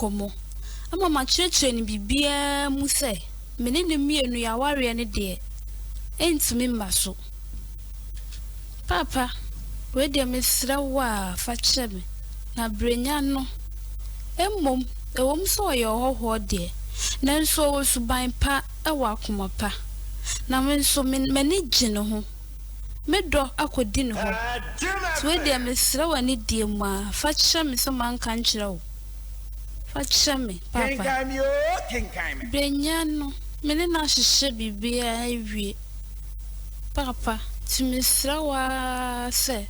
nkɔmmɔ ama makyerɛkyerɛ no biribiara mu sɛ me ne no mmienu yɛn awareɛ no deɛ ɛntumi mma so. Paapa, wei deɛ mesrɛ wo a fa kyerɛ me, na Brenya no, mmom ɛwom sɛ ɔyɛ ɔhɔhoɔ deɛ, nanso ɔwɔ suban pa, ɔwɔ akoma pa, na me nso m'ani gye ne ho, medɔ akɔdi ne hɔ. Nti wei deɛ mesrɛ wo anidie mu a fa kyerɛ me sɛ manka nkyerɛ wo. Fa kyerɛ me, Papa. Kenkan me oo, kenkan me. Benya no, me ne no ahyehyɛ biribiara awie. Papa, nti mesrɛ wo ara sɛ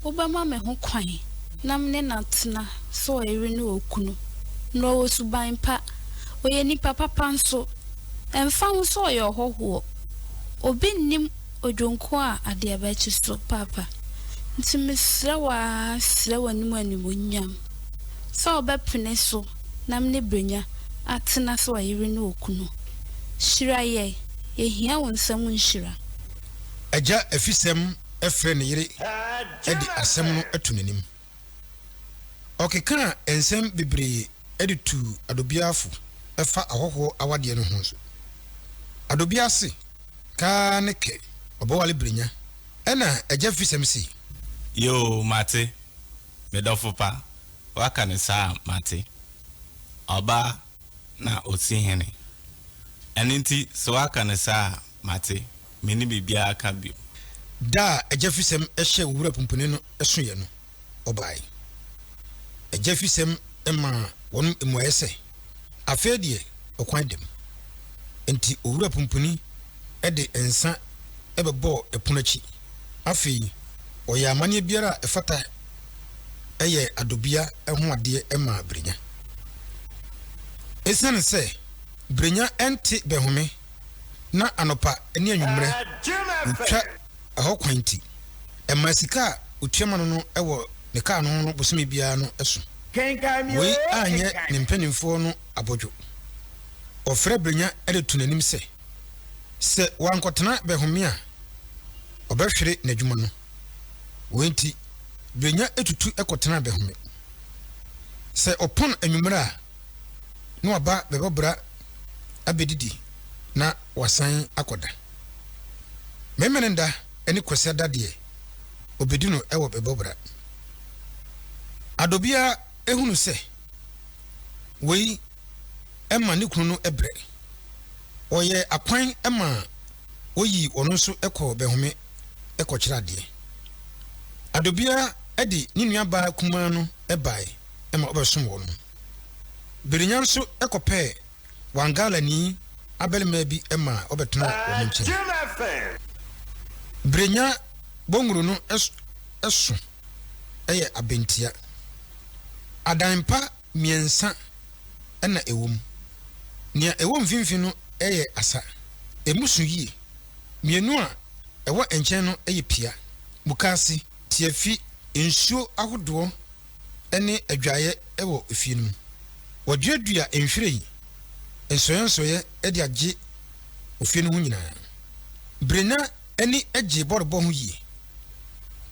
wobɛma me ho kwan na me ne no atena sɛ ɔyere ne okunu. Na ɔwɔ suban pa. Ɔyɛ nipa papa nso. Ɛmfa ho sɛ ɔyɛ ɔhɔhoɔ. Obi nnim. Odwonko a adeɛ bɛkye so paapa Nti mesrɛ wo ara srɛ w'anim animuonyam Sɛ wobɛpene so na mene Brenya atena sɛ ɔyere ne okunu Hyira yɛn, yɛhia wo nsa mu nhyira. Agya Afisɛm frɛ ne yere de asɛm no to n'anim. Ɔkekaa nsɛm bebree de tuu Adobia fo fa ahɔhoɔ awadeɛ no ho nso. Adobia se, Kaa ne kɛ, ɔbɛwale Brenya. Ɛna Agya Fisɛm se. Yoo, mate, me dɔfo pa, woaka no saa a, mate. Ɔbaa na ɔsi hene. Ɛno nti, sɛ woaka no saa a, Mate. Menni biribiara ka bio. Da a agyafisɛm hyɛɛ Owura Pumpuni no soeɛ no, ɔbae. Agyafisɛm maa wɔn mmuaeɛ sɛ, Afei deɛ ɔkwan da mu. Enti Owura Pumpuni de nsa bɛbɔɔ ɛpono akyi. Afei ɔyɛɛ amanneɛ biara a ɛfata yɛɛ Adobia ho adeɛ maa Brenya. Esiane sɛ Brenya nte Bɛhome na anɔpa ne anwummerɛ wɔtwa ɛhɔ kwan nti, ɛmaa sika a wɔtua ma no no wɔ ne kaa no ho no bosome biara no so. Wei anyɛ ne mpanimfoɔ no abodwo. Wɔfrɛɛ Brenya de too n'anim sɛ, sɛ wankɔtena bɛhome a, wɔbɛhwere n'adwuma no. Wei nti, Brenya tutu kɔtenaa bɛhome. Sɛ ɔpɔn anwummerɛ a, na waba bɛbɔbra abɛdidi na wasan akɔda. Memeneda ne Kwasiada deɛ, ɔbɛdi no wɔ bɛbɔbra. Adɔbiara hunu sɛ wei ma ne kunu no brɛ. Wɔyɛɛ akwan ma wɔyii wɔn nso kɔɔ bɛhome kɔkyerɛ adeɛ. Adɔbiara de ne nuabaa kumaa no baeɛ. ma ɔbɛsom wɔn no. Birinya nso kɔpɛɛ Wangalani abarimaa bi maa ɔbɛtenaa wɔn nkyɛn. Birinya bɔnwunu no so yɛ abentea. Adan pa mmiɛnsa na ɛwɔ mu. Nea ɛwɔ mfimfini no yɛ asa. Emu so yie. Mmienu a ɛwɔ nkyɛn no yɛ pia, mukaase, tiafi, nsuo ahodoɔ, ne adwaeɛ wɔ efie no mu. Wɔduadua nhwiren nsɔeɛnsɔeɛ de agye ofie no ho nyinaa. Brenna ani gye bɔɔlbɔ ho yie.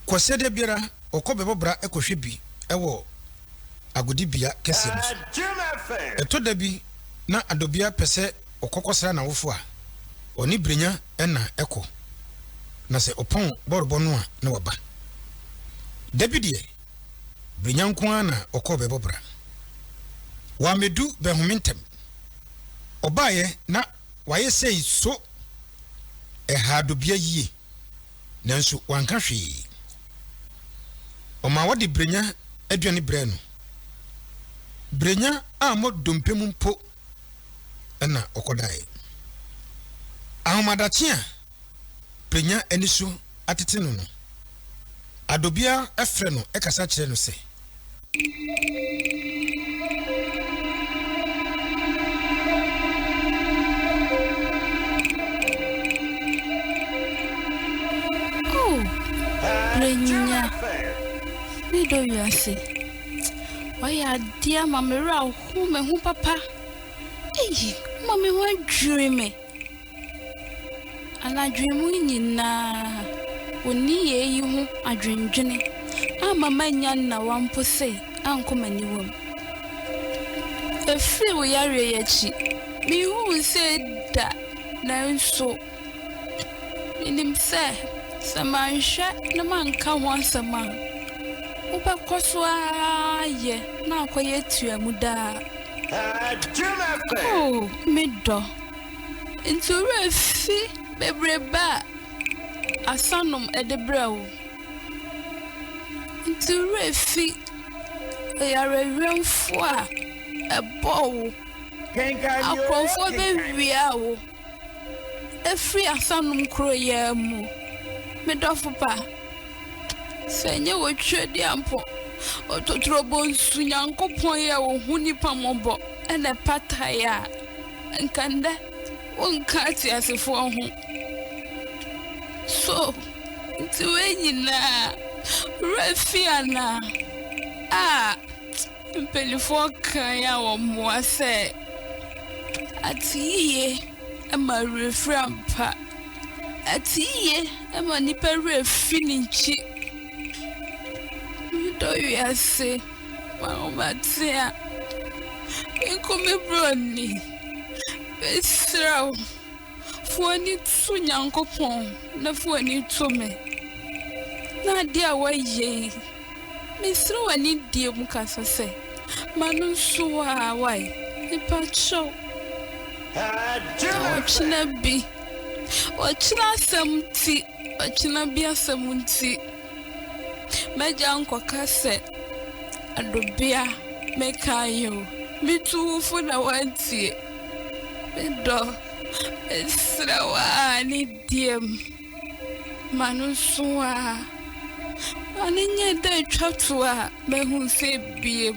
Kwasiɛ da biara, ɔkɔ bɛbɔ bra kɔhwɛ bi wɔ agodibea kɛseɛ no so. Ɛtɔ da bi na Adobia pɛ sɛ ɔkɔkɔsra n'awofo a, ɔne Brenna na ɛkɔ, na sɛ ɔpɔn bɔɔlbɔ no a na waba. Da bi deɛ, Brenya nko ara na ɔkɔɔ bɛbɔ bra. Wammedu bɛhome ntɛm. Ɔbaeɛ na wayɛ sei so. Ɛhaa Dobea yie, nanso wanka hwee. Ɔmaa wɔde Brenya aduane brɛɛ no. Brenya ammɔ dompe mu mpo. na ɔkɔdae. Ahomadakye a Prenya ani so atete no no, Adobia frɛ no kasa kyerɛ no sɛ. Oh, Prenya, me dɔ wiase. Wayɛ adeɛ ama me werɛ Hu me ho papa. Eii mma me ho adwiri me. Anadwo mu nyinaa onni yei yi ho adwendwene amma mannya nnawa mpo sei ankɔ m'aniwa mu. Ɛfiri wo yareɛ yi akyi, menhuu sei da nanso. Minim sɛ, sɛ manhwɛ na manka ho asɛm a, wobɛkɔ so ara ayɛ na akɔyɛ atua mu daa. O, me dɔ, nti wo werɛ fi bebrebe a asanom de brɛ wo? Nti wo werɛ fi ɔyarewemfo a ɛbɔɔ wo? Akorɔmfoɔ bɛwiaa wo. Efiri asanom koro yi ara mu. Me dɔfo pa, sɛ ɛnyɛ w'atwiredi a mpo, ɔtotorobɔ nsu Nyankopɔn yi a ohu nnipa mmɔbɔ na ɛpatae a, nka nnɛ wonka ateasefoɔ ho. So nti wei nyinaa werɛ fi anaa? Ah! Mpanimfoɔ kan a wɔmmoa sɛ, Ate yiye ma werɛ firi ampa. Ate yiye ma nnipa werɛ fi ne nkyi. Medɔ wiase, m'ahomatea, me nko me broni. Mesrɛ wo. Fa w'ani to Nyankopɔn na fa w'ani to me, na adeɛ a woayɛ yi, mesrɛ wo anidie mu kasa sɛ, M'ano nso waa wae. Mepa kyɛw, ɔkyena bi, ɔkyena asɛm nti, ɔkyena bi asɛm nti. M'agya nkɔka sɛ, Adobea, mekaeɛ o. Metu wo fo na woantie. Me dɔ, mesrɛ wo a, ne diem. Ma no nso a, ma no nyɛ dɛ twa to a, mɛhu sɛ ebiem.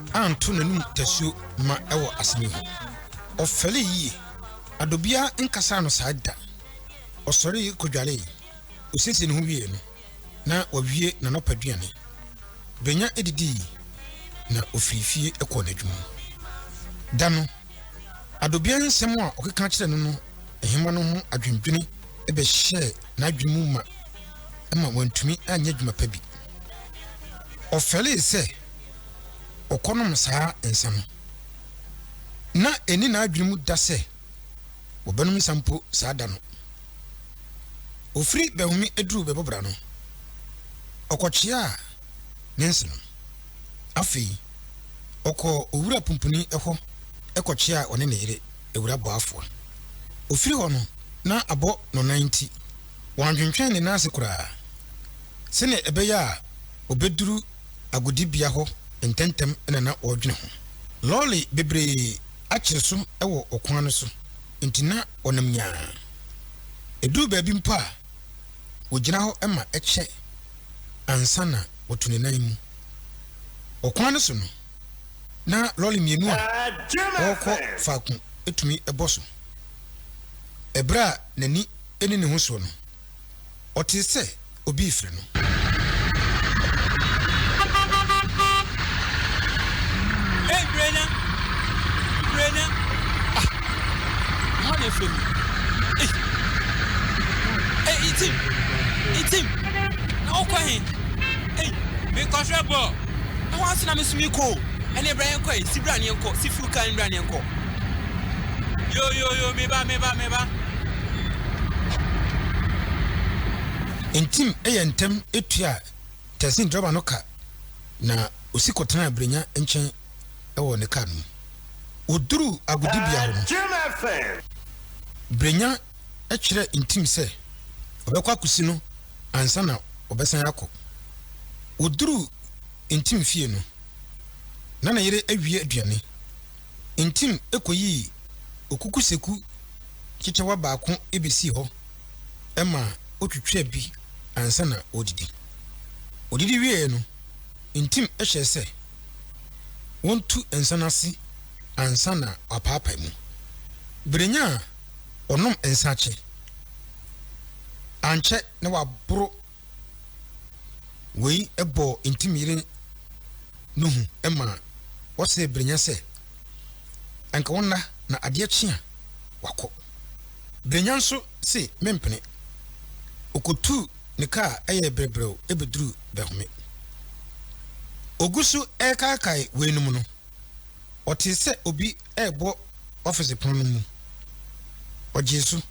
anto n'anom tasuo ma ɛwɔ asɛm yi ho. Ɔfɛlee yie. Adɔ biara nkasaa no saa da. Ɔsɔree kɔdwaree. Ɔsiesiee ne ho wieeɛ no, na wawie n'anɔpa aduane. Benya didii, na ɔfirii fie kɔɔ n'adwuma mu. Da no, Adɔ biara nsɛm a ɔkeka kyerɛɛ no no nhema no ho adwendwene bɛhyɛɛ n'adwene mu ma ɛma wantumi anyɛ adwuma pa bi. Ɔfɛlee sɛ. ɔkɔnom saa nsa no, na ɛnni n'adwene mu da sɛ ɔbɛnom nsa mpo saa da no. Ɔfiri bɛhome duru bɛbobra no, ɔkɔkyeaa ne nse no. Afei, ɔkɔɔ owura pumpuni hɔ kɔkyeaa ɔne ne yere awura boafoɔ. Ɔfiri hɔ no, na abɔ no nan nti, wantwentwɛn ne nan ase koraa sɛdeɛ ɛbɛyɛ a ɔbɛduru agodibea hɔ ntɛmntɛm na na wɔredwene ho. Lɔre bebree akyere so wɔ ɔkwan no so, enti na wɔnam nyaa. Eduu baabi mpo a, wogyina hɔ ma ɛkyɛ ansa na wɔto ne nan mu. Ɔkwan no so no, na lɔre mmienu a wɔrekɔ faako tumi bɔ so. Bere a n'ani nni ne ho so no, ɔtee sɛ obi refrɛ no. Ei, Brenya! Brenya! Ah, mma na ɛfrɛ me. Ei, ei, itim, itim, na wokɔ he? Ei, mekɔhwɛ bɔɔl. Ɛhɔ ase na me nso mekɔ o. Ɛnneɛ bra yɛnkɔ ei, si bra ne yɛnkɔ, si furu kaa ne bra ne yɛnkɔ. Yo yo yo me ba me ba me ba. Ntim yɛ ntɛm tua taxi driver no ka na osi kɔtenaa Brenya nkyɛn wɔ ne kaa no mu. Wɔduruu agodibea hɔ no, Brenya kyerɛɛ Ntim sɛ ɔbɛkɔ akosi no ansa na ɔbɛsan akɔ. Wɔduruu Ntim fie no, na ne yere awie aduane. ntim koyii okukuseku kyekyɛwa baako besii hɔ ma otwitwaa bi ansa na wɔredidi. Wɔdidi wieeɛ no, ntim hyɛɛ sɛ wɔntu nsa no ase ansa na wɔapaapae mu. Berenya a ɔnom nsa akyɛ ankyɛ na waboro. Wei bɔɔ Ntim yere no hu maa ɔsee Brenya sɛ anka wɔnna na adeɛ kye a wakɔ. Brenya nso se mempene. Ɔkɔtuu ne kaa yɛɛ brɛbrɛw bɛduruu Dahome. Ɔgu so rekaakae weinom no, ɔtee sɛ obi rebɔ ɔfese pon no mu. Ogyee so.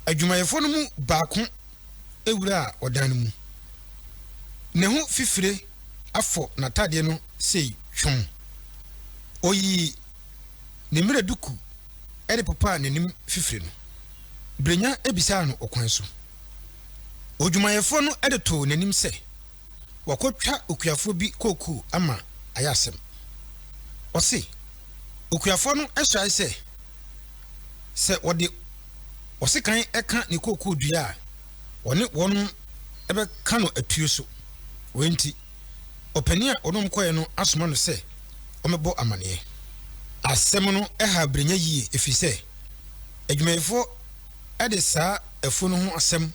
Adwumayɛfo no mu baako wuraa ɔdan no mu. Ne ho fifire afɔ n'atade no sei twom. Oyii ne mmira duku de popaa n'anim fifire no. Brenya bisaa no ɔkwan so. Odwumayɛfo no de too n'anim sɛ. wɔakɔtwa okuafoɔ bi kookoo ama ayɛ asɛm. Ɔse okuafoɔ no hyae sɛ, sɛ wɔde ɔsekan ka ne kookoo dua a, ɔne wɔn bɛka no atuo so. Wei nti, ɔpanin a ɔne wɔn kɔeɛ no asoma no sɛ ɔmmɛbɔ amaneɛ. Asɛm no haa Brenya yie ɛfiri sɛ, adwumayɛfoɔ de saa afuo no ho asɛm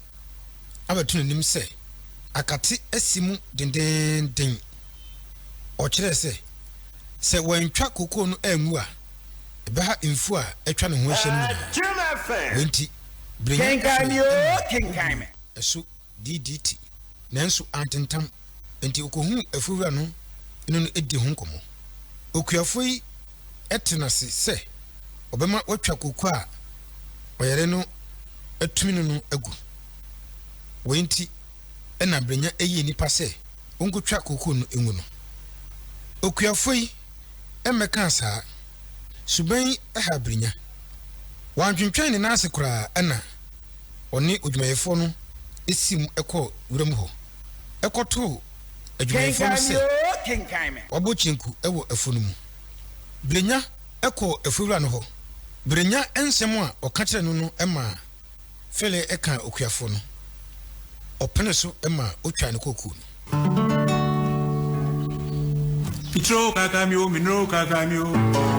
abɛto n'anim sɛ akate asi mu dendeenden. Ɔkyerɛe sɛ, sɛ wɔantwa kookoo no angu a, ɛbɛha mfuw a atwa ne ho ahyia no nyinaa. Wei nti, Brenya fii adi maa obu no so DDT, nanso antentam. Enti okohuu afuruwura no ne no di ho nkɔmmɔ. Okuafo yi te no ase sɛ ɔbɛma wɔatwa kooko a ɔyare no atumi no no agu. Wei nti na Brenya yii ne pa sɛ onkotwa kooko no ngu no. Okuafo yi mmɛkaa saa. Suban yi haa Brenya. Wantwentwɛn ne nan ase koraa na ɔne odwumayɛfoɔ no siim kɔɔ wuram hɔ. kɔtoo adwumayɛfoɔ no sɛ wɔabɔ kyenku wɔ afuo no mu. Berenya kɔɔ afuowura no hɔ. Berenya nsɛm a ɔka kyerɛɛ no no maa Fele kaa okuafoɔ no. Ɔpenee so maa ɔtwaa ne kookoo no. Mitro kaka mi o, minro kaka mi o.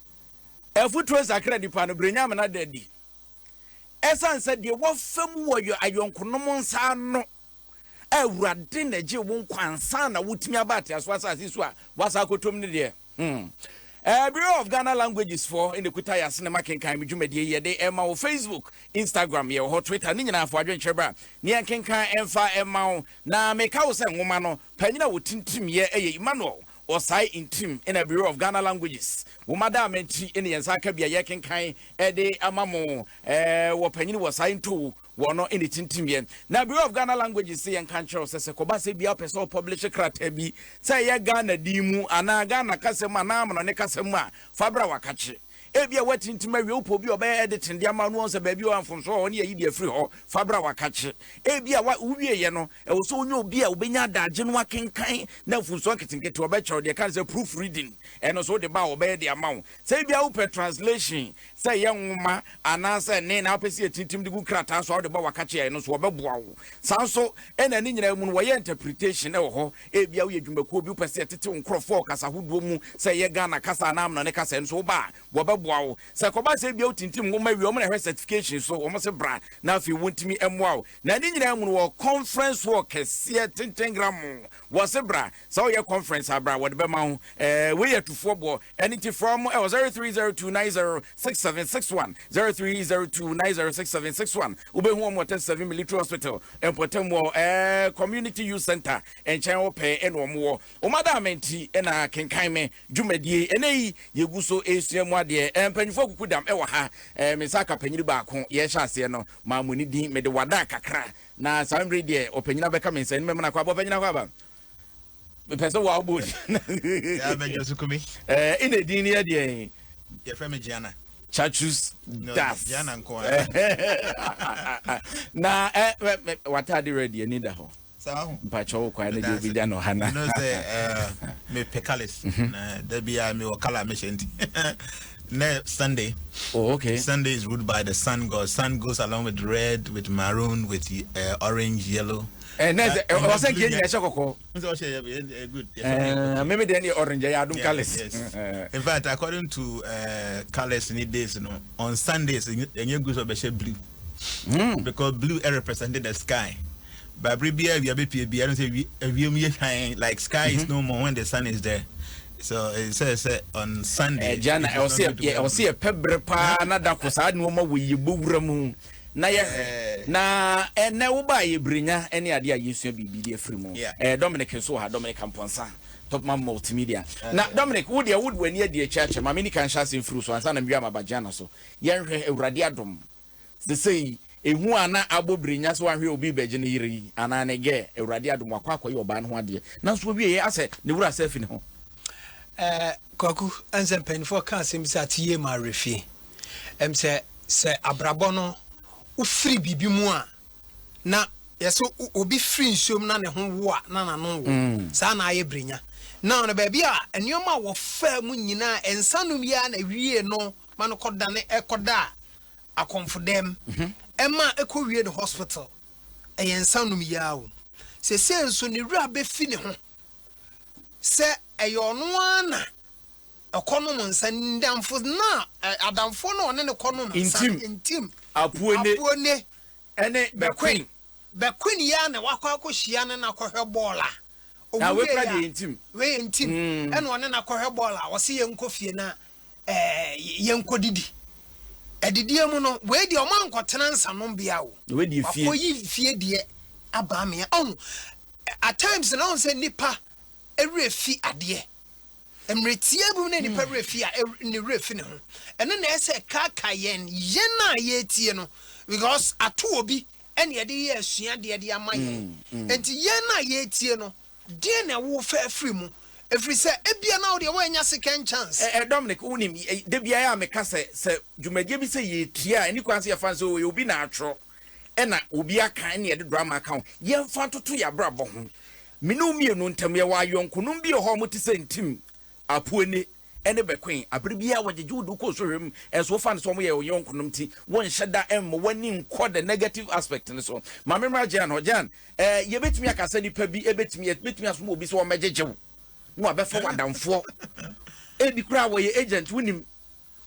Afotuo nsakra nnipa no berɛ nyame no ada adi. Ɛsiane sɛ deɛ wɔfa mu wɔ yɛ ayɔnkonom nsa ano a Awurade na gye wo nkwa ansa na wotumi aba ateaso asase so a wasa akɔtom no deɛ hmm. Uh, Bureau of Ghana Languages for in the Kuta Yase ne makenkan me dwumadie yɛ de ɛma wo Facebook, Instagram, yɛ wɔ hɔ Twitter ne nyinaa fo adwenkyerɛ bra ne yɛnkenkan ɛmfa ɛma wo na meka wo sɛ nwoma no Panyin a ɔti ntirim yɛ ɛyɛ Emmanuel Osae Ntirim na Bureau of Ghana Languages Nwoma da ama ti ne yɛn nsa aka bi a yɛrekenkan de ama mo wɔ Panyin Osae Ntowu wɔn no na ɛti ntirim yɛ. Na Bureau of Ghana Languages se yɛnka nkyerɛ wo sɛ sɛ kɔba sɛ biaa wopɛ sɛ wo publish krataa bi sɛ ɛyɛ Ghana din mu anaa Ghana kasa mu anaa amanɔne kasa mu a fa bra wakakye. Ebia woatintim awie wo pɛ obi a ɔbɛyɛ editing de ama wo na wahu sɛ baabi a ɔwɔ a mfomso wɔ hɔ ne ayi deɛ firi hɔ fa bra wakakye. Ebia wa wowieeɛ no ɛwɔ sɛ wonya obi a wobɛnya adagye no akenkan na mfomsoɔ nketenkete ɔbɛkyerɛ wo deɛ ɛka no sɛ proof reading ɛno nso wode ba a wɔbɛyɛ de ama wo. Sɛ ebia wopɛ translation sɛ ɛyɛ nwoma anaasɛ nne na wopɛ sɛ yɛtintim de gu krataa so a wode ba wakakye a ɛno nso wɔbɛboa wo. Saa nso na ne nyinaa mu no wɔyɛ interpretation wɔ hɔ Ebia woyɛ dwumakuo bi, wopɛ sɛ yɛtete wo nkorɔfoɔ wɔ kasa hodoɔ mu, sɛ ɛyɛ Ghana kasa anaa Amanɔne kasa, ɛno nso woba a, wɔbɛboa wo. Sɛ ɛkɔba sɛ ebia wotintim nwoma wie a, wɔn na ɛhwɛ certification so, wɔn se bra na afei wɔntumi mmoa wo. Na ne nyinaa mu no, wɔwɔ conference hall kɛseɛ, tenten gramoo, wɔse bra. Sɛ woyɛ conference a, bra, wɔde bɛma wo. Ɛɛ, wei yɛ atufoɔ boɔ. Ɛno nti frɛ wɔn wɔ 0302906761, 0302906761. Wobɛhu wɔn wɔ 37 Military Hospital mpɔtam wɔ eh, Community Youth Center nkyɛn hɔ pɛɛ ɛna wɔn wɔ. Wɔn adaama nti ɛna kenkan me dwumadie. Ɛnɛ yi yɛgu so ɛresua mu adeɛ. Eh, mpanyinfoɔ kuku dam ɛwɔ ha. Eh, me nsa aka panyini baako yɛhyɛ aseɛ no maa mo ne din mede wada kakra na saa mmerɛ deɛ ɔpanyini abɛka me nsa ɛnum ɛmena kɔ abɔ panyini akɔ aba. mepɛ sɛ wo abɔ din ɛna din no yɛ deɛ yɛfrɛ me giana chachus das giana nko na watade redi ani da hɔ mpakyɛ wo kwae no deɛ obɛgya no hana mepɛ cales na da biaa mewɔ kala mehyɛ nti ne sunday oh, okay. sunday is ruled by the sun god sun goes along with red with maroon with uh, orange yellow Eh, na ɛsɛ ɛwɔ sɛ nkeɛ nyina ɛhyɛ kɔkɔɔ. N sɛ ɔhyɛ yɛ yɛ good. Eh, meme deɛ ne orange ɛyɛ adom colours. In fact, according to uh, eh, colours ni days no, on Sundays ɛnyɛ good sɛ ɔbɛhyɛ blue. Mm. Because blue eh, represented the sky. Babere bi awia bɛpie bi ɛno sɛ awia mu yɛ hwan like sky is mm-hmm. no more when the sun is there. So it says uh, on Sunday. Ɛgya na ɛwɔ sɛ ɛpɛ berɛ paa na da ko saa nneɛma wɔ yɛ bɔwura mu. na yɛhwɛ. Na ɛnnɛ woba a yɛ brenya ne adeɛ a yɛsua biribi de afiri mu. Ɛɛ Dominic nso wɔ ha, Dominic Amponsah, Topman Multimedia. Na Dominic, wo deɛ wode w'ani adi akyɛ akyɛ. Ma me nika nhyɛ ase mfiri so ansa na mewia maba Gianna so. Yɛnhwɛ, Awurade adom, sesei ehu a na abɔ brenya sɛ wanhwɛ obi rebɛgye ne yere yi anaa ne gɛ, Awurade adom wakɔ akɔyɛ ɔbaa no ho adeɛ. Nanso ɔwieɛ asɛ ne werɛ asɛ afi ne ho. Eh, Kwaku, ɛn sɛ mpanyinfoɔ ka asɛm bi sɛ ate yie ma awerɛfie. Ɛm sɛ sɛ abrabɔ no wofiri biribi mu a na yɛsɛ obi firi nsuom na ne ho wo a na n'ano wo. Mm. Saa na ayɛ berenya. Na ɔno baabi a nneɛma a wɔfaa mu nyinaa nsa nom yi ara na wie no ma no kɔdane ɛkɔda akɔmfodɛm. Mhm. Ɛma ɛkɔwie no hospital. Ɛyɛ nsa nom yi ara o. Sɛsɛ nso ne wura bɛfi ne ho. sɛ ɛyɛ ɔno ara na ɔkɔnom nsa no nnamfo no a adamfoɔ no a ɔne no kɔnom nsa no ntim Apuone ne Bɛkwen Bɛkwen yi ara na wakɔ akɔhyia ne no akɔhwɛ bɔɔl a ɔmu wieɛ a wei ntim ɛna ɔne no akɔhwɛ bɔɔl a ɔse yɛnkɔ fie na ɛɛ yɛnkɔdidi. Adidie mu no, wei deɛ ɔma nkɔtena nsanombea o. Wakɔ yi fie deɛ aba amea. Ɔhu, at times na ɔhu sɛ nipa ɛwerɛ fi adeɛ. Mmerɛ tiaa bi mu na nipa werɛ fi a, ne werɛ fi ne ho. Ɛno na ɛsɛ ɛkaaka yɛn, yɛn a yɛretie no. Because ato obi ɛne ɛde yɛ asuadeɛ de ama yɛn. Nti yɛn a yɛretie no, Deɛn na wo fɛ firi mu? Ɛfiri sɛ ebia na wo deɛ woannya second chance. Ɛ ɛ Dominic, wonim, ɛ da biara a meka sɛ, sɛ dwumadie bi sɛ yɛretua a, ɛnni kwan sɛ yɛfa no sɛ, oo, ɛyɛ obi na atwerɛ, ɛna obi aka, ɛna yɛde drama aka ho. Yɛmfa ntoto yɛn abrabɔ ho. Me ne wo mmienu ntam, yɛwɔ ayɔnkonom bi wɔ hɔ a wɔte sɛ ntim, apuane. ne bɛkoe. Bere biara a wɔgyegye wo de wo kɔ sohwɛ mu nso, wofa no sɛ wɔyɛ wo yɔnkonom nti, wonhyɛ da mma w'ani nkɔ the negative aspect no so. Ma memmra Jan hɔ. Jan, Ɛɛ, yebetumi aka sɛ nnipa bi betumi, yebetumi asoma obi sɛ ɔmmɛgyegye wo, na wabɛfa wo adamfoɔ. Ebi koraa wɔyɛ agent, wunim.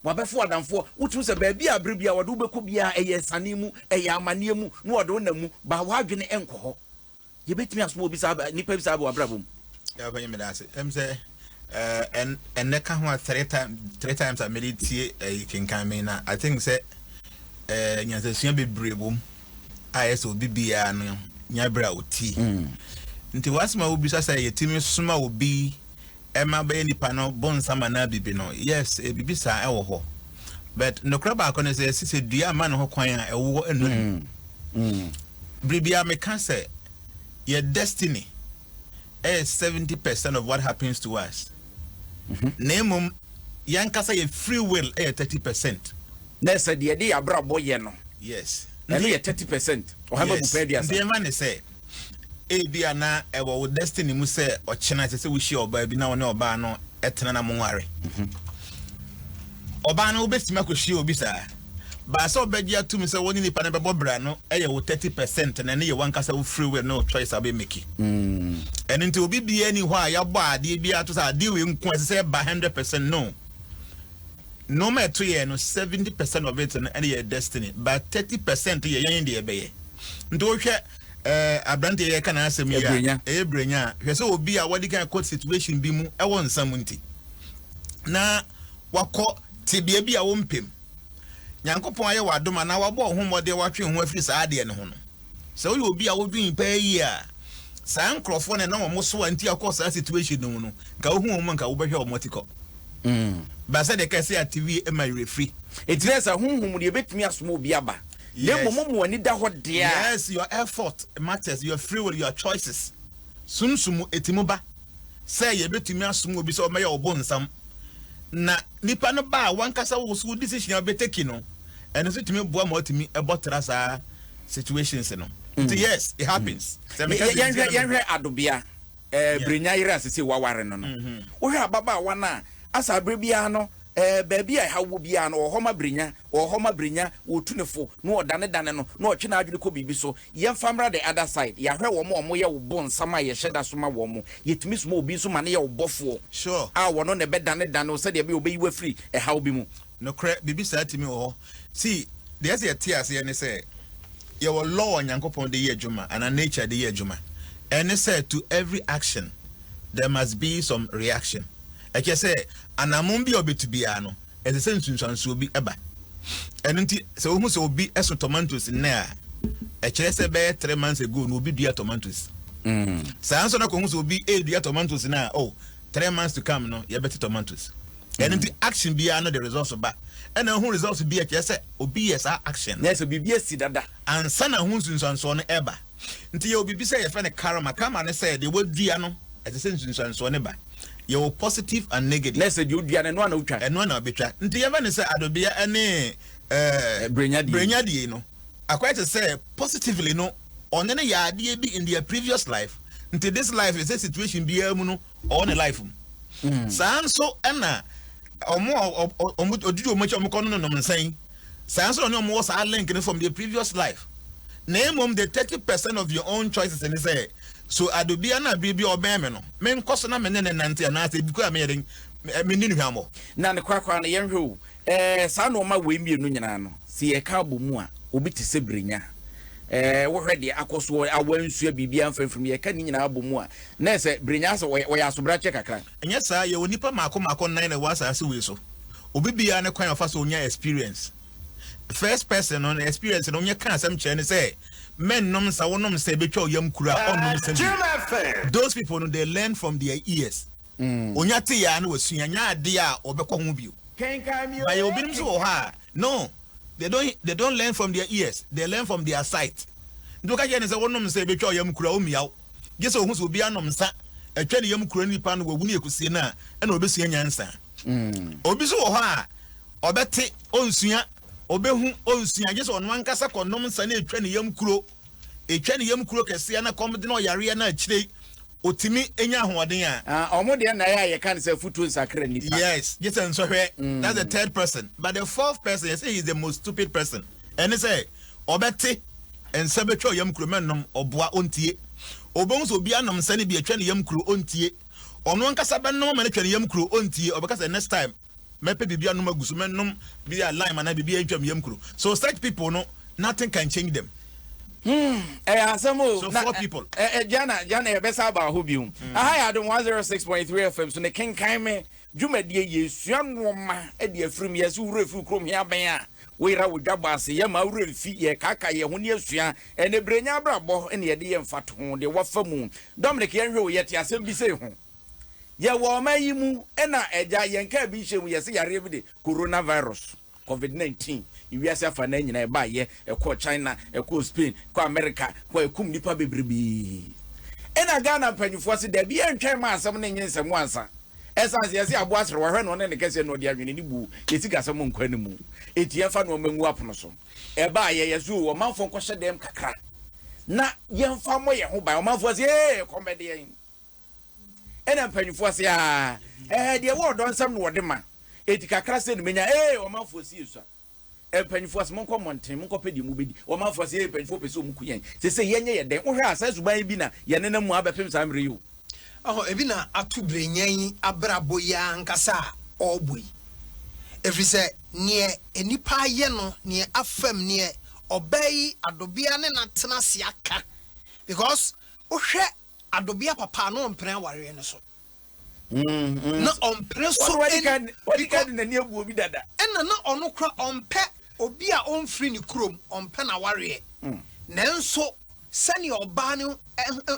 Wabɛfa wo adamfoɔ. Wotumi hu sɛ baabi a bere biara wɔde wo bɛkɔ biara, ɛyɛ asiane mu, ɛyɛ amanneɛ mu, na wɔde wo nam mu, but w'adwene nkɔ hɔ. Yɛbɛtumi asom obi saa bɛ, nipa bi saa bɛ wɔ abrabɔ mu. Yɛa panyini meda ase ɛm sɛ ɛn ɛnɛ ka ho a three time three times a mede tie ɛyi kenkan me na I think sɛ ɛɛ nyansasua bebree wɔ mu a ɛyɛ sɛ obi biara no nya berɛ a ɔtie mm. nti wɔasɛm a wobisa sɛ yɛtumi soma obi ɛma bɛyɛ nipa no bonsam anaa bibi no, yes, bibi saa ɛwɔ hɔ. But nokorɛ baako ne sɛ yɛse sɛ dua amma ne ho kwan a ɛwoɔ ɛnnɔ mu. Mm. Mm. Biribiara meka sɛ yɛ destiny ɛyɛ 70% of what happens to us. Mm -hmm. Na mmom yɛnkasa yɛ free will ɛyɛ 30%. Na ɛsɛ deɛ ɛde yɛ abrabɔ yɛ no. Yes. Ɛno yɛ 30%. Ɔhama yes. bu pɛɛ duasa. Ndeɛma ne sɛ. Ebia na ɛwɔ wo destiny mu sɛ ɔkyena ɛsɛ sɛ wohyia ɔbaa bi na wo ne ɔbaa no tena na monware. Mhm. Ɔbaa no wobɛtumi akɔhyia obi saa? Baa sɛ ɔbɛgye atom sɛ wo ne nipa no bɛbɔ bra no yɛ wo 30 percent na ɛno yɛ wankasa wo free will ne wo choice a wobɛmaki. Mm. Ɛno nti obi biara ni hɔ a yɛabɔ adeɛ biara to sɛ adeɛ wei nko ɛsɛ sɛ ɛba 100 percent no. Nnoɔma a ɛto yɛn no, 70 percent of it no ɛne yɛn destiny, but 30 percent yɛ yɛn deɛ yɛbɛyɛ. Nti wohwɛ eh, aberanteɛ yɛka n'asɛm yi a, Ɛbrenya. ɛyɛ brenya a, hwɛ sɛ obi a wadi kan kɔ situation bi mu ɛwɔ nsa mu nti, na wakɔ tebea bi a wompɛ mu. Nyankopɔn ayɛ wo adom anaa wabɔ wo ho mmɔden a woatwe wo ho afiri saa adeɛ no ho no, Sɛ woyɛ obi a wodwen paa yie a, saa nkorɔfoɔ no a na wɔn soa nti a wokɔɔ saa situation no mu no, nka wohu wɔn a nka wobɛhwɛ wɔn atikɔ. But sɛdeɛ ɛkae sɛ ate wie ɛma werɛ firi. Enti na ɛsɛ honhom mu deɛ ɛbɛtumi asoma obi aba. Na mmom mo ma w'ani da hɔ deɛ a. Yes, your effort matters, your free will, your choices. Sunsum mu ɛtumi ba sɛ yɛbɛtumi asoma obi sɛ ɔmmɛyɛ wo bonsam. Na nipa no ba a, w'ankasa wo so wo decision a wobɛteki no, ɛno nso tumi boa ma watumi bɔ tra saa situations no nti mm. yes it happens mm. sɛ meka sɛ yɛnhwɛ yɛnhwɛ adobea ɛɛ eh, brenya yere a sese waware no no mm-hmm. wohwɛ ababaawa no a asa abere biara no ɛɛ eh, baabi a ɛha wo biara no ɔhɔ ma brenya ɔhɔ ma brenya wɔtu ne fo na ɔdanedane no na ɔtwe n'adwene kɔ biribi so yɛnfa mmra the other side yɛahwɛ wɔn a wɔyɛ wo bo nsam a yɛhyɛ da so ma wɔn yɛtumi soma obi nso ma ne yɛ wo bɔfoɔ sure a wɔn na ɛbɛdanedane wo sɛdeɛ ɛbɛyɛ ɔbɛyi wafiri ɛhaw bi mu nokorɛ biribi saa tumi wɔ hɔ See, deɛ ɛsɛ yɛte aseɛ ne sɛ, yɛwɔ law a Nyankopɔn de yɛ adwuma anaa nature de yɛ adwuma. Ɛne sɛ to every action there must be some reaction. Ɛkyerɛ sɛ anammɔn bi a obetu biara no, ɛsɛ sɛ nsunsuansoɔ bi ba. Ɛno nti, sɛ wohu sɛ obi so tomatoes nnɛ a, ɛkyerɛ sɛ bɛyɛ three months ago na obi dua tomatoes. Mm. Saa nso na kɔhu sɛ obi redua tomatoes no a, oh, three months to come no, yɛbɛte tomatoes. ɛno nti action biara no de results ba ɛna ho results bi ɛkyerɛ sɛ obi yɛ saa action na ɛsɛ biribi asi dada ansa na ho nsunsuansoɔ no ɛba nti yɛwɔ biribi sɛ yɛfrɛ no karma karma no sɛ deɛ wɔadua no ɛsɛ sɛ nsunsuansoɔ no ba yɛwɔ positive and negative na ɛsɛ deɛ ɔdua no ɛno ana wotwa ɛno ana wobɛtwa nti yɛfɛ no sɛ adobea ɛne eh, berɛnyadie no akɔyɛ te sɛ positively no ɔne no yɛ adeɛ bi in their previous life nti this life ɛsɛ situation biara mu no ɔwɔ ne life mu hmm. saa nso ɛna ɔmo ɔmo odidi ɔmo akyi ɔmo kɔ no nom nsɛn saa nso ɔne ɔmo wɔ saa link no from their previous life na emom the thirty percent of your own choices ni sɛ so adobia na biribi ɔbɛn mi no me nkɔ so na me ne ne nante anaasɛ ebi kura mi yɛ den me ne nuhwammɔ. na ne korakora no yɛn hwɛ o Ɛɛ, saa nnoɔma wei mmienu nyinaa no, sɛ yɛka abɔ mu a, obi te sɛ Brenya. Ɛɛ, wohwɛ deɛ akɔ soɔ a wansua biribiara mfa mfirim, yɛka ne nyinaa bɔ mu a, na ayɛ sɛ Brenya asɛ ɔyɛ ɔyɛ asobrakyɛ kakra. Ɛnyɛ saa, yɛwɔ nnipa mmaako mmaako nnan na ɛwɔ asaase wei so. Obi biara ne kwan a ɔfa so nya experience. First person no ne experience no, onyɛ ka asɛm kyerɛ ne sɛ, Mɛnnom nsa, wonom nsa, ɛbɛtwa wo yam kura a, ɔnnom nsa bio. Those people no, they learn from their ears. Onya te yɛ a na wasua, nya ade a ɔbɛkɔ ho bio. But yɛwɔ binom nso wɔ hɔ a, no, they don't, they don't learn from their ears, they learn from their sight. Nti woka kyerɛ no sɛ wonom nsa ɛbɛtwa wo yam kuro a, ɔmmia wo. Gye sɛ ɔhu sɛ obi anom nsa atwa ne yam kuro nipa no, wawu ne akusie no a, ɛna ɔbɛsua nyansa. Obi nso wɔ hɔ a, ɔbɛte, ɔnsua, ɔbɛhu, ɔnsua, gye sɛ ɔno ankasa kɔnom nsa na ɛtwa ne yam kuro. etwa ne yam kuro kɛseɛ na kɔm de no ɔyareɛ na akyire yi ɔtumi nya ahoɔden a. Ah ɔmo deɛ na ɛyɛ a yɛka no sɛ afutuo nsakra nnipa. Yes gye sɛ nsɔhwɛ that's the third person but the fourth person yɛsɛ he is the most stupid person ɛne sɛ ɔbɛte nsa bɛtwa ɔyam kuro mɛnom ɔboa ɔntie ɔbɛhu sɛ obi anom nsa no bi atwa ne yam kuro ɔntie ɔno ankasa bɛnom ama no atwa ne yam kuro ɔntie ɔbɛka sɛ next time Mɛpɛ biribi anom agu so, mɛnom bi a lime anaa biribi a ɛntwam yam kuro. So such people no, nothing can change them. Hmm, ɛyɛ asɛm o. So four people. Na, eh, eh, Jana, Jana, yɛbɛsa aba hɔ bio. Mm. Aha yɛ Adom 106.3 FM so ne kenkan me dwumadie yɛsua nnoɔma de afirim yɛse wura firi kurom hea bɛn a woyera wo dwabɔ ase yɛma wura mfi yɛkaka yɛ ho ne asua ɛne berɛ nya abrabɔ ne yɛde yɛ mfatoho deɛ wafa mu Dominic yɛnhwɛ o yɛte asɛm bi sei ho Yɛwɔ ɔman yi mu na agya yɛn kaa bi nhyɛ mu yɛse yareɛ bi de Corona virus, Covid 19, ewiase afanaa nyinaa ɛbaayɛ, ɛkɔɔ China, ɛkɔɔ Spain, ɛkɔɔ America, kɔ ɛkum nipa bebrebee. Ɛna Ghana mpanyinfoɔ se dabi yɛntwɛn mma asɛm no nyɛ nsɛm ansa. Ɛsan se yɛse aboa sere wahwɛ na ɔne ne kɛseɛ na ɔde ahwene ne buo, yɛ sikasɛm nkɔ anemu, eti yɛnfa nnoɔma ngu apono so. Ɛbaayɛ yɛse oo ɔmanfoɔ nkɔhyɛ dɛm kakra na yɛnfa mmɔ yɛn ho ban, ɔmanfoɔ se ee ɛkɔm bɛde yɛn. Ɛna mpanyinfoɔ se aa ɛɛ deɛ ɛwɔ ɔdɔ nsɛm na wɔde ma enti kakra sei na menya ee ɔmanfoɔ se yɛsua mpanyinfoɔ se monkɔ mmɔnten monkɔ pɛ deɛ mobɛdi ɔmanfoɔ se ee mpanyinfoɔ pɛ sɛ wɔn ku yɛn sesei yɛnyɛ yɛ dɛn wohwɛ a saa suban yi bi na yɛnenam mu abɛpem saa mmerɛ yi o. Ɔhɔ ebi na ato brenya yi abrabɔ yi ankasa a ɔrebɔ yi ɛfiri sɛ neɛ nnipa ayɛ no neɛ afam neɛ ɔbaa yi adobea ne no atena ase aka because wohwɛ Adɔbea papa a na ɔmpene awareɛ no so. Na ɔmpene so Ɔno wadi kan wadi kan de n'ani agu obi dada. Ɛna na ɔno kora ɔmpɛ obi a ɔmfiri ne kurom, ɔmpɛ n'awareɛ. Nanso sɛnea ɔbaa no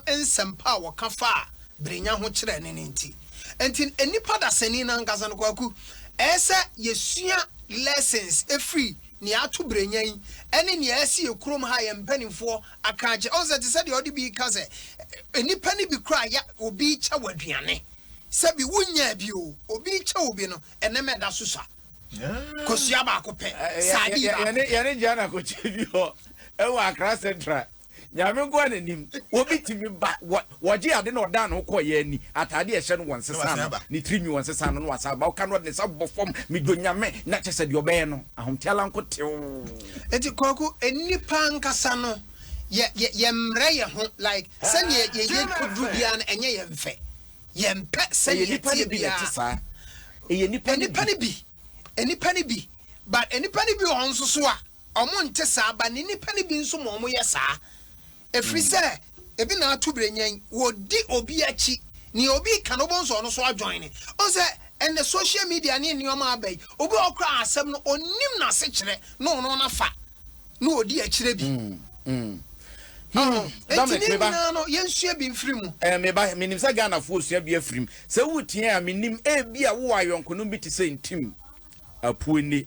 nsɛmpa a wɔka faa Brenya ho kyerɛɛ no no nti. Nti nnipa dasani no ankasa no, Kwaku, ɛyɛ sɛ yɛsua lessons firi nea ato Brenya yi ne nea asi yɛn kurom ha, yɛn mpanimfoɔ Akrakyɛ, ɔsɛ te sɛ deɛ ɔde bi reka sɛ, nnipa no bi koraa yɛ obi rekyɛ wo aduane, sɛbi wonyaa bi o, obi rekyɛ obi no, ɛnɛma ɛda so sua. Kosua baako pɛ, sardine baako pɛ. Yɛne Jana kɔkyɛ bi hɔ wɔ Accra Central, Nyame nkoa na nim, obi tumi ba, Wɔgyee ade na ɔdaa ne ho kɔeɛ ani, atadeɛ a ɛhyɛ no wɔnsesaa no, ne tirinwi wɔnsesaa no na wasan aba. Ɔka no ɔde ne nsa bɔ fam, Medwo Nyame, na kyɛ sɛ deɛ ɔbɛyɛ no, ahomteala nko tew. Nti Kwaku, nnipa ankasa no yɛ yɛ yɛmmrɛ yɛ ho like sɛdeɛ yɛ yɛ duru biara no ɛnyɛ yɛn fɛ, yɛmpɛ sɛdeɛ yɛteɛ biara, nnipa no bi, nnipa no bi, but nnipa no bi wɔ hɔ nso so a. wɔnte saa, ba ne nnipa no bi nso ma wɔyɛ saa. Ɛfiri sɛ, ebi na ato berɛ nyan, wɔdi obi akyi, nea obi reka no wobɛhu sɛ ɔno nso adwoine. Wohu sɛ ɛnnɛ social media ne nneɛma aba yi, obi wɔ hɔ koraa a asɛm no ɔnnim n'asekyerɛ na ɔno na fa na ɔdi akyire bi. Enti ne nyinaa no yɛnsua bi mfiri mu. Me ba, menim sɛ Ghanafoɔ sua bi afiri mu. Sɛ woteɛ a, menim ebia wowɔ ayɔnkonom bi te sɛ Ntim, Apueni.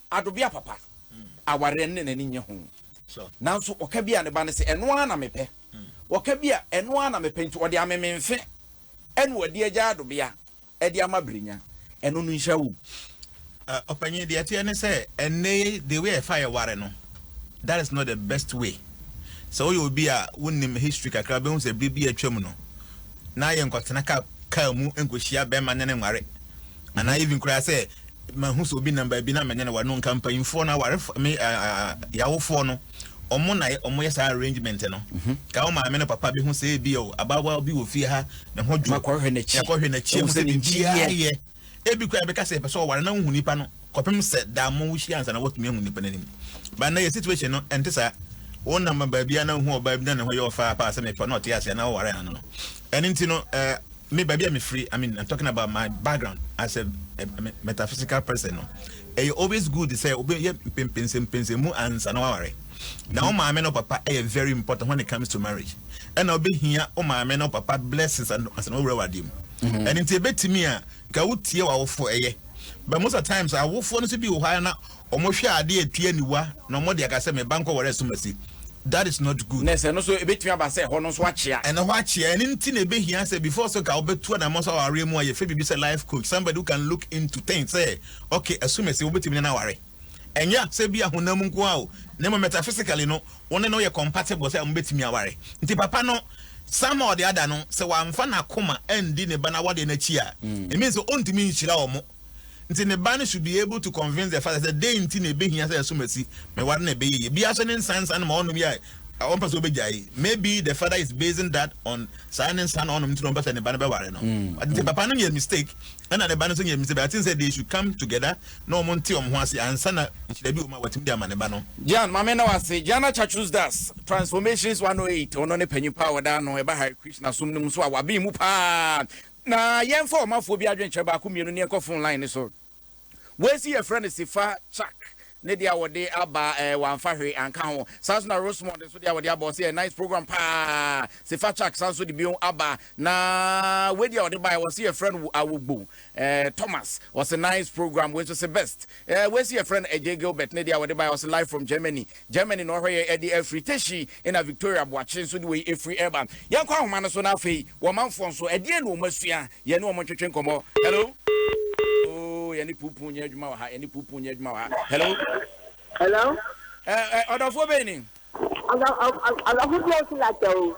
Adobea papa, awareɛ no ne n'ani nnye ho. Nanso ɔka bi a ne ba no se, ɛno ara na mepɛ. Ɔka bi a, ɛno ara na mepɛ. Nti ɔde ameme mfe ɛna ɔadi agya Adobea de ama Brenya. Ɛno no nhyira wom. Ɔpanyin, deɛ ɛteɛ ne sɛ, ɛnnɛ yi, the way a yɛfa yɛ ware no, that is not the best way. Sɛ woyɛ obi a wonim history kakra, wobɛhu sɛ bere bi a atwam no, na yɛnkɔtena kaa mu nkɔhyia bɛrima ne ne nware. anaa even koraa sɛ mahu sɛ obi nam baabi na me ne no ware no nka mpanyinfoɔ no awarefo me yawofoɔ no ɔmo na ɔmo yɛ saa arrangement no mhm. ka wo maame no papa bi ho sɛ ebi o abaawa bi wɔ fie ha ne ho dwo makɔhwɛ n'akyi makɔhwɛ n'akyi mu sɛ biribiara yɛ ebi koraa bɛka sɛ ɛpɛ sɛ ɔware na wohu nipa no kɔpem sɛ daa mo wohyia ansa na wɔatumi ahu nipa no anim ba na yɛ situation no ɛnte saa wonam baabi a na wohu ɔbaa bi na ne ho yɛ ɔfaa paa sɛ mepa na ɔte ase na wɔware ano no Ɛno nti no eh, me baabi a mefiri, I mean, I'm talking about my background as a, a, a metaphysical person no, ɛyɛ always good sɛ wobɛyɛ mpɛmpɛnsɛmpɛnsɛmu ansa na waware. Na wo mm-hmm. maame no papa ɛyɛ very important when it comes to marriage. Ɛna wobɛhia wo maame no papa blessings ansa na wowura wadeɛ mu. Mm-hmm. Ɛno nti ɛbɛtumi a, nka wotie w'awofoɔ ɛyɛ. But most of the times, awofoɔ no nso bi wɔ hɔ ara na Wɔhwɛ ade a etu aniwa na wɔde aka sɛ, Me ba nkɔware asumasi. That is not good. Na sɛ ɛno nso ebetumi aba sɛ ɛhɔ no nso akyea. Ɛno hɔ akyea. Ɛno nti na ebehia sɛ before sɛ nka wobɛtu anamɔn sɛ awareɛ mu a, yɛfrɛ biribi sɛ life coach, somebody who can look into things sɛ, okay, asumasi, wobetumi ne no aware. Ɛnyɛ sɛ ebia honam mu nko ara o, na mmom metaphysically no, wo ne no yɛ compatible sɛ mobetumi aware. Nti papa no, Sam a ɔde ada no, sɛ wamfa n'akoma andi ne ba no awadeɛ no akyi a, it means sɛ ontumi nhyira wɔn. Nti ne ba no should be able to convince the father sɛ dɛn nti na ɛbɛhia sɛ ɛso masi me ware na ɛbɛyɛ yie. Bi ara so ne nsa nsa no ma ɔnom yɛ a ɔmpɛ sɛ ɔbɛgyae. Maybe the father is basing that on saa ne nsa no ɔnom nti na ɔmpɛ sɛ ne ba no bɛware no. Wate nti papa no nyɛ mistake ɛna ne ba no nso nyɛ mistake but I think sɛ they should come together na wɔn nte wɔn ho ase ansa na nhyira bi wɔ mu a watumi de ama ne ba no. Gian, ma me nna wo ase. Gian Achatrus Das, Transformations 108, ɔno ne panyin pa a wɔde ano ba Hare Krishna som no mu nso a wabɛn mu paa. Na yɛnfa ɔmafoɔ bi adwenkyerɛ baako mmienu ne ɛnkɔ phone line no so. Wei nso yɛfrɛ no Sifa Chak ne deɛ a wɔde aba ɛɛ wamfa hwee anka ho. Saa nso na Rosemond nso deɛ a wɔde aba ɔse ɛyɛ nice program paa. Sifa Chak san nso de bio aba na wei deɛ a ɔde baeɛ wɔse yɛfrɛ no wo Awogbo ɛɛ Thomas ɔse nice program wei nso se best. Ɛɛ wei nso yɛfrɛ no Agye Gilbert ne deɛ a wɔde baeɛ ɔse live from Germany Germany na ɔhwɛ yɛn de afiri. Teshie na Victoria Boakye nso de wei afiri reba. Yɛnkɔ ahoma no so na afei wɔ manfoɔ nso, ɛdeɛn na wɔn asua? Yɛne wɔn ntwetwe nkɔmmɔ. Hello? Oh, yɛne puupuu nyɛ adwuma wɔ ha. Yɛne puupuu nyɛ adwuma wɔ ha. Hello? Hello? Ɛ, ɛ, ɔdɔfoɔ bɛn ni? Ɔdɔ, ɔ, ɔ, ɔdɔfo bi a ɔsi lakyɛ o.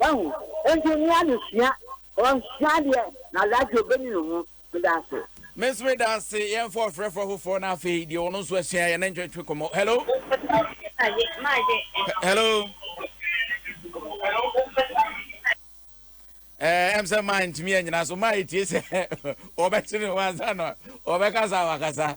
Wahu? Enti mmea no sua, wɔsua adeɛ, na radio bɛni no ho. Meda ase. Me nso meda ase. Yɛmfa ɔfrɛfoɔ foforɔ na afei deɛ ɔno nso asua yɛne ntwetwe kɔmmɔ. Hello? He- Hello? Eh, ɛm sɛ maa ntumi anyina so maa ɛtie sɛ ɔbɛkyere ho ansa na ɔbɛkasa a wakasa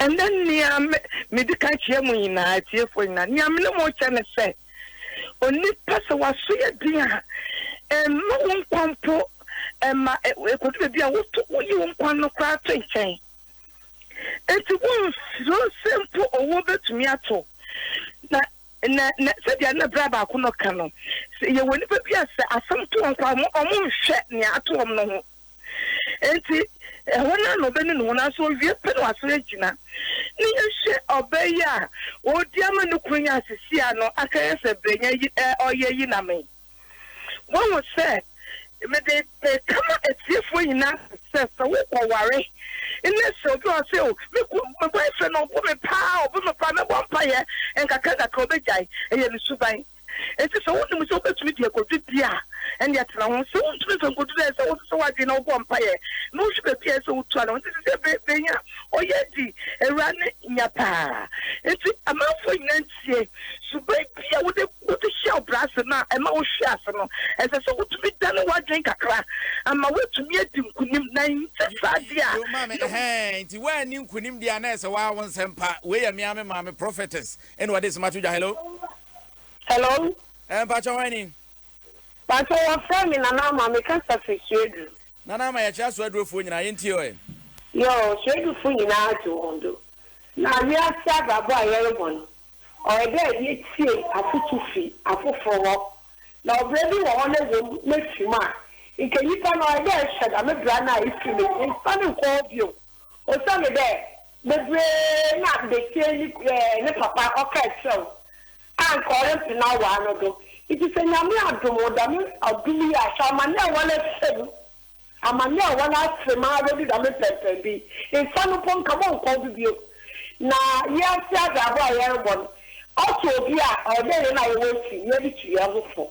Ɛnnɛ, nea mede ka akyerɛ mo nyinaa, atiefoɔ nyinaa, nea me ne mo rekyɛ ne sɛ, onipa sɛ w'aso yɛ den a, ɛmma wo nkwa mpo ɛmma ɛkɔdu baabi a woto woyi wo nkwa no koraa to nkyɛn. Enti wonsuro sɛ mpo owuo bɛtumi ato. Na na na sɛdeɛ na berɛ baako no ka no, yɛwɔ nnipa bi a sɛ asɛm to wɔn koraa wɔn nhwɛ nea ato wɔn no ho. Enti hɔn a na ɔbɛnu no hɔn ase owie pɛ na ɔasan egyina. Ne yɛhwɛ ɔbaa yi a ɔredi ama no kunu nye asisi a no aka yɛ sɛ brɛnya yi ɛ ɔyɛ yi na me. Woahu sɛ mede meka ma atiefoɔ nyina sɛ sɛ wo kɔ ware ne sɛ obi ɔɔ sɛ o me ku me boyfriend ɔbu me paa ɔbu me paa mɛbɔ mpayɛ nkakrankakra ɔbɛgyae ɛyɛ ne suban. Enti sɛ wunim sɛ wubetumi de akodu bi a, ɛnde tena ho. Sɛ wuntumi mfa nkodu no a, ɛsɛ sɛ wosesa w'adwene na wobɔ mpae na wohwɛ baabi a ɛsɛ sɛ wutu ano. Enti sisi bere bɛn a ɔyɛ adi awura no nya paa. Enti amanfoɔ nyinaa ntie. Suban bi a wode wode hyɛ wo bra ase na ɛma wohwe ase no, ɛsɛ sɛ wutumi dane w'adwene kakra ama woatumi adi nkonim, na ɛnyɛ saa de a Yo, maame, na wo. ɛhɛn, nti woanni nkonim deɛ a na ɛsɛ sɛ woawo nsɛm pa. Wei yɛ me ara me maame, Prophetess, ɛna ɔde nsɛm ato dwa. Hello? Hello. Ẹ mpatsọ hwan ni? Mpatsọ wọ fẹ mi Nana Ama mi kasa fi Suedu. Nana Ama yẹ kyerẹ Suedufoɔ nyinaa yẹ ntie ɔ ẹ. Yoo Suedufo nyinaa gye wɔn do na wiase abrabɔ a yɛrebɔ no ɔyɛ dɛ yɛtie afotu fi afoforo hɔ na ɔbra bi wɔ hɔ no ɛwom na efi mu a nka nyipa no ɔyɛ dɛ ɛhyɛ dame bra no a efi mu no yɛnfa no nkɔ hɔ bio. Osian dɛ beberee na betsie ne ku eh ne papa ɔkaa kyerɛw a nka ɔremmpe n'awar no do ntsi sɛ Nyame adom wo dɛm adom yi a hwɛ aman a wɔrefrɛ mu, aman a wɔafrɛ mu ara do dɛm mpɛnpɛn do yi, nfa no mpo nka bɔnnkɔw do bio. Na wiase adze abɔ a yɛrobɔ no ɔto obi a ɔyɛ dɛ hɛn a yɛwɔ ekyir no yɛdze tu hɛnho fo.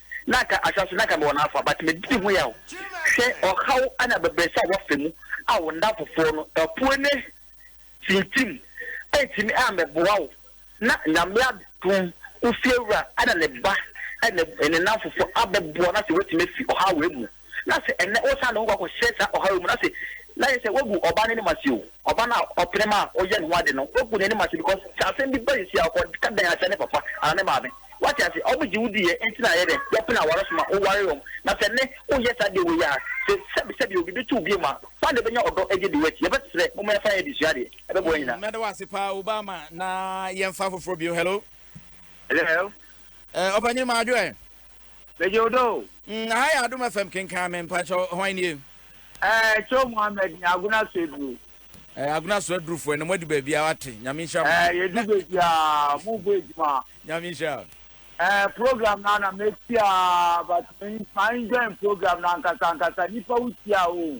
na anka ahyɛ ase na anka mewɔ n'afa but medidi ho yaw hwɛ ɔhaw ne abɛbrɛsɛ a wafa mu a wo ndamfofoɔ no apue ne tintim antumi ammɛboa wo na Nyame adom wo fiewura ne ne ba ne ne nnamfofoɔ abɛboa no asɛ woatumi afi ɔhaw wei mu. na se nnɛ wosan ne ho kɔ akɔhyɛ saa ɔhaw yi mu no ase, na ayɛ sɛ woagu ɔbaa no anim ase o. Ɔbaa no a ɔpene ma woyɛ ne ho ade no, woagu n'anim ase because sɛ asɛm bi ba sisi a, ɔkɔka dan akyerɛ ne papa anaa ne maame. Woate ase? Wɔgye wo diiɛ nti na ɛyɛ dɛn? Wɔpene aware so ma wowaree wɔn. Na sɛ nnɛ woyɛ saa adeɛ wei a, se sɛbisɛbi obi bɛtu wo bio a, fan de bɛnya ɔdɔ adi adi w'akyi. Yɛbɛsrɛ, momma yɛmfa yɛn adesua adeɛ, ɛbɛboa yɛn nyinaa. Mɛda wo ase paa Obama na yɛmfa foforɔ bio. Hello. Hello. Eh, Ɔpanyini Madwo ɛ? Megye wo dɔ o. Mm, aha yɛ Adom FM kenkan me mpakyɛw hwan nie? Ɛɛ Kyew Mohammed ne Agona Soaduru. Ɛɛ Agona Soaduru foɔ ɛnɛ mo adu baabi a wate Nyame nhyira mo. Ɛɛ yɛdu baabi a mo bɔ adwuma. Nyame nhyira o. Ɛɛ program no ana mɛti a but ma enjoy program no ankasa ankasa nipa wo tia a o.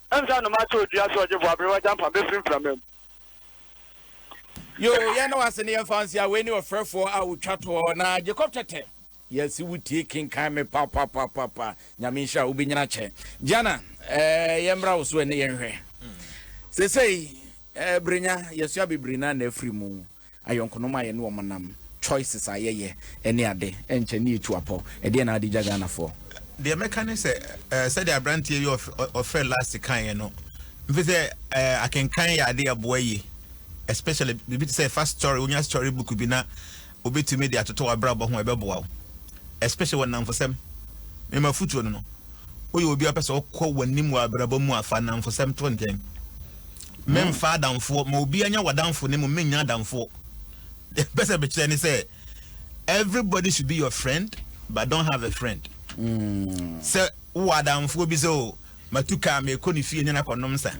Ɛnsa nnoma ato odua so ɔgyefo abre wagya mpa befiri mframa mu. Yoo yɛn da wo ase ne yɛn fansi a wei ne ɔfrɛfoɔ a ɔtwa toɔ na Jacob Tɛtɛ yɛse wo tie kenkan me papapapapa nyame nhyira wo bɛnyina kyɛ Gianna ɛɛ eh, yɛn mmra wo so ɛne yɛn hwɛ sesei ɛɛ eh, brenya yɛsua bebree na na afiri mu ayɔnkonom a yɛne wɔn nam, choices a yɛyɛ ne ade, ɛnkyɛ na yɛtu apɔ. Ɛdeɛn na ade gya Ghanafoɔ? Deɛ mɛka ne sɛ, eh, sɛdeɛ aberanteɛ yi ɔfrɛ last kaeɛ no, mfe sɛ eh, akenkan yɛ ade ɛboa yie especially biribi te sɛ fa story wonya story book bi na wobɛtumi de atoto w'abrabɔ ho ɛbɛboa wo especially wɔ nnamfosɛm mema fotuo no no woyɛ obi a wopɛ sɛ wokɔ w'anim wɔ abrabɔ mu a fa nnamfosɛm to nkyɛn Memmfa adamfoɔ, ma obiara nya w'adamfo ne mo mennya adamfoɔ. Deɛ mpɛ sɛ mekyerɛ ne sɛ everybody should be your friend but don't have a friend. Sɛ wowɔ adamfoɔ bi sɛ o matu kaa meekɔ ne fie ne no akɔnom nsa.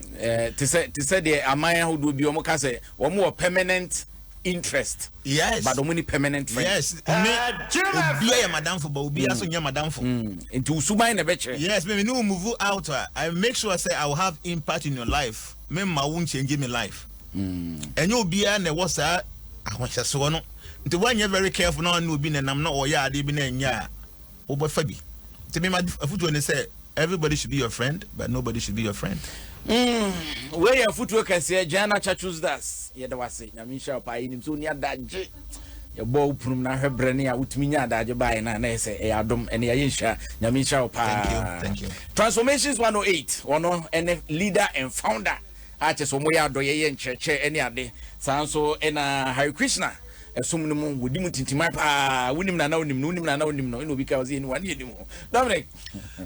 Te sɛ deɛ aman ahodoɔ bi wɔka sɛ wɔn wɔ permanent interest yes but ɔmo ni permanent friend yes me obia yɛ madamfo ba obia mm. so nyɛ madamfo mm. nti usuban na ɛbɛkyerɛ yes me ne move out a i make sure say i will have impact in your life me ma wo change me life mm. ɛnyɛ obia na ɛwɔ saa ahohyɛsoɔ no nti woanyɛ very careful na ɔne obi nenam na ɔyɛ adeɛ bi na ɛnyɛ a Wobɛfa bi. Nti me ma afutuo ne sɛ everybody should be your friend but nobody should be your friend. Mm, wei yɛ afutuo kɛseɛ Gianna Chachuzdas. Yɛda wase, nyame nhyira wo paa. Yɛnim sɛ woni adagye. Yɛbɔ wo punum na ahwɛ berɛ ne a wotumi nya adagye baeɛ no a na yɛ sɛ ɛyɛ adom ɛne yɛayɛ nhyira. Nyame nhyira wo paa. Thank you, thank you. Transformations 108 ɔno ɛne leader and founder a kyɛ sɛ wɔyɛ adɔyɛyɛ nkyerɛkyerɛ ɛne ade saa nso ɛna Hare Krishna Ɛsom no mu, wɔdi mu tintiman paa, wonim no anaa wonim no, wonim no anaa wonim no, ɛna obi ka ɔsɛ yɛnim wane yɛnim ho. Dominic,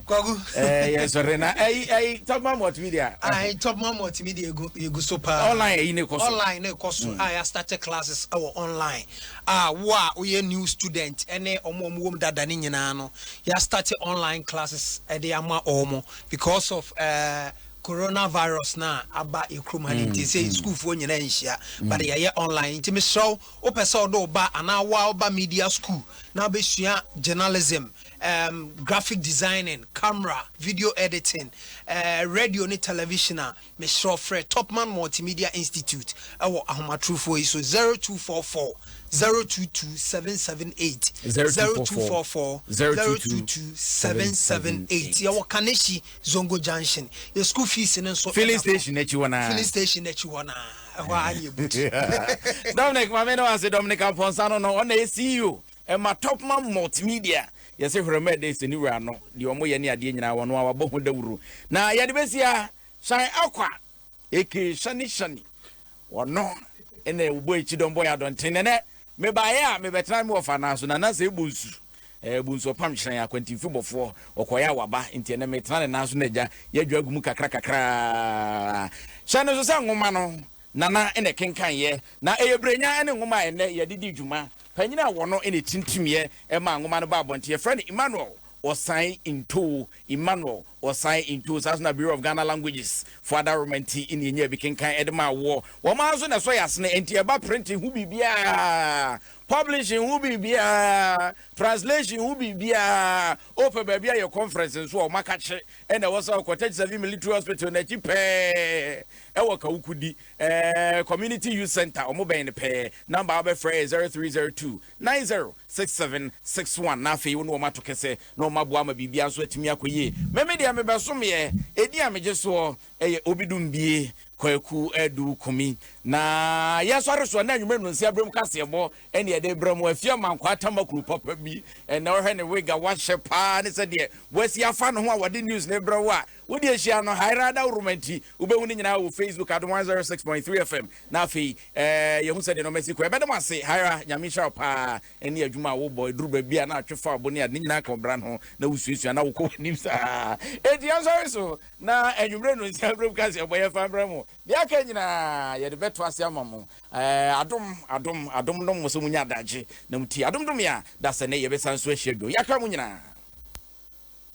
Kwagu. Eh, yɛn sɔre na ɛyi ɛyi Topman Multimedia. Ayi Topman Multimedia egu egu so paa. Online ɛyi ne kɔ so. Online ne kɔ so. A yɛ start classes ɛwɔ online. A wo a woyɛ new student ɛne ɔmo ɔmo wɔm dada ne nyinaa no yɛ start online classes ɛde ama ɔmo because of ɛɛ. Eh, Corona virus no a aba yɛ kurom ha no nti sɛ sukuufoɔ nyinaa nhyia but yɛyɛ online nti mesrɛ wo wopɛ sɛ wode wo ba anaa wo a woba media school na wobɛsua journalism, um, graphic designing, camera, video editing, uh, radio ne television a mesrɛ wo frɛ Topman Multimedia Institute ɛwɔ ahomatorofoɔ yi so 0244 022 778 0244 022 778 yɛwɔ Kanehyi Zongo Junction, yɛ school fees no nso ɛda fam. Filling station akyi hɔ naa. Filling station akyi hɔ naa, ɛhɔ ara ne yɛ boot. Dominic, ma me ne wo ase, Dominic Amponsah no no, ɔna yɛ CEO ɛma Topman Multimedia. Yɛse Hwerɛmɛɛ Days ne wura no, deɛ wɔyɛ ne adeɛ nyinaa, ɔno ara wabɔ ho dawuro. Na yɛde bɛsi ha, Shine Aqua. Eke Shani Shani, ɔno na ɔbɔ akyi dɔm bɔ yɛ adɔnten nɛnɛ mebaeɛ a mebɛtena me wɔfa nan so na na sɛ ɛbɔ nsu ɛɛ bɔ nsu ɔpam hyerɛn akwantinfi bɔfoɔ ɔkɔeɛ a waba nti ɛnɛ metena ne nan so na agya yɛadwa agu mu kakra kakra hyɛ no so sɛ nwoma no nana na ɛkenkanyeɛ na ɛyɛ berɛnya ne nwoma a ɛnɛ yɛde di dwuma panyini a wɔ no na ɛtintimiɛ ɛma nwoma no ba abɔnten yɛfrɛ no Emmanuel Osai Ntowo, Emmanuel Osai Ntowo, saa nso na Bureau of Ghana Languages fo adaworoma nti na yɛnyaa bi kenkan de maa woɔ. Wɔn ara nso na ɛsɔ yɛn asene, enti ɛba printing ho biribiara, publishing ho biribiara, translation ho biribiara, wopɛ baabi ayɛ conference nso a, wɔakakye na ɛwɔ sɛ wokɔ Tech Savvy Military Hospital no akyi pɛɛ wɔ Kawukudi, ɛɛ, Community Youth Centre, wɔbɛn no pɛɛ. Number a wobɛfrɛ yɛ 0302. Nine zero six seven six one na afei wo ne wɔn ato kɛsɛ na wɔn aboa ama biribiara nso atumi akɔ yie. Me me deɛ mebɛsomeɛ, edin a megye soɔ yɛ Obidumbie Kwaku Adu Kumi. Na yɛsɔre soɔ na anwummerɛ nnonsia aberɛ mu kaseɛbɔ ɛne yɛde brɛ mo. Afie Amankwaa Tamakuru papa bi ɛnɛ wohwɛ ne wig a wahyɛ paa ne sɛdeɛ wasi afa ne ho a wɔde news no brɛ wo a Wo deɛ hyia no Haira Adaworoma nti wobɛhu ne nyinaa wɔ Facebook Adom 106.3 FM na afei eh, yɛhu sɛdeɛ nɔma si kɔ. Ɛbɛda mo ase Haira, Nyame nhyira wo paa ɛne adwuma a wobɔ ɛduru baabi a na atwe fa abo ne ade ne nyinaa ka ɔbra no ho na wosuasua na wokɔ w'anim saa. Enti yɛnsɔre so na anwummerɛ no nsia berɛ mu ka sɛ ɛbɔ yɛfa mmerɛ mo. Deɛ aka nyinaa yɛde bɛto ase ama mo. Eh, adom, adom, adom nom mo sɛ monya adagye na motie. Adom dom yɛ a da sɛ nɛ yɛbɛsan so ahyia bio. Yɛaka mo nyinaa.